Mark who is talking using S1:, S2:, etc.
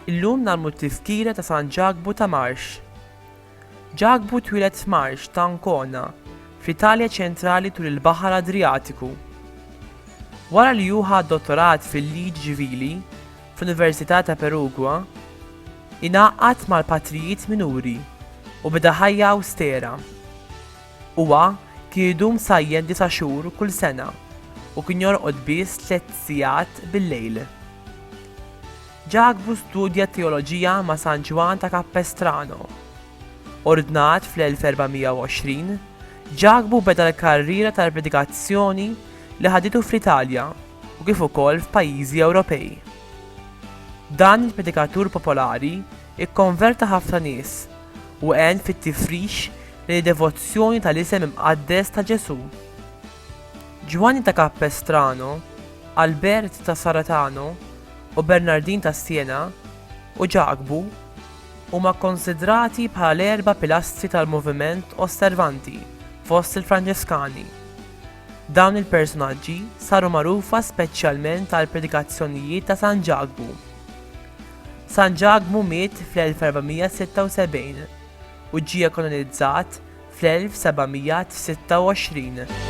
S1: Illum nagħmlu t-tizkira ta' San Ġakbu ta' Marx. Ġakbu twieled f'Marx ta' Ancona, fl-Italja ċentrali tul il-Baħar Adriatiku. Wara li hu ħa dottorat fil-liġi ċivili, fl-Università ta' Perugia, ingħaqad mal-patrijiet minuri u beda ħajja awstera. Huwa kien idum sajjen disa' xhur kull sena u kien jorqod biss tliet sigħat bil-lejl. Ġakbu studja t-teoloġija ma' San Ġwann ta' Capestrano. Ordnat fl-1420, Ġakbu beda l-karriera tal-predikazzjoni li ħaditu fl-Italja. u kif ukoll f'pajjiżi Ewropej. Dan il-predikatur popolari kkonverta ħafna nies u għen fit-tifrix lejn id-devozzjoni tal-isem imqaddes ta' Ġesù. Ġwanni ta' Capestrano, Albert ta' Sarratano u Bernardin ta' Siena u Ġakbu huma kkunsidrati bħala l-erba' pilastri tal-moviment Osservanti fost il-Franġeskani. Dawn il-personaġġi saru magħrufa speċjalment għall-predikazzjonijiet ta' San Ġakbu. San Ġakbu miet fl-1476 u ġie kanonizzat fl-1726.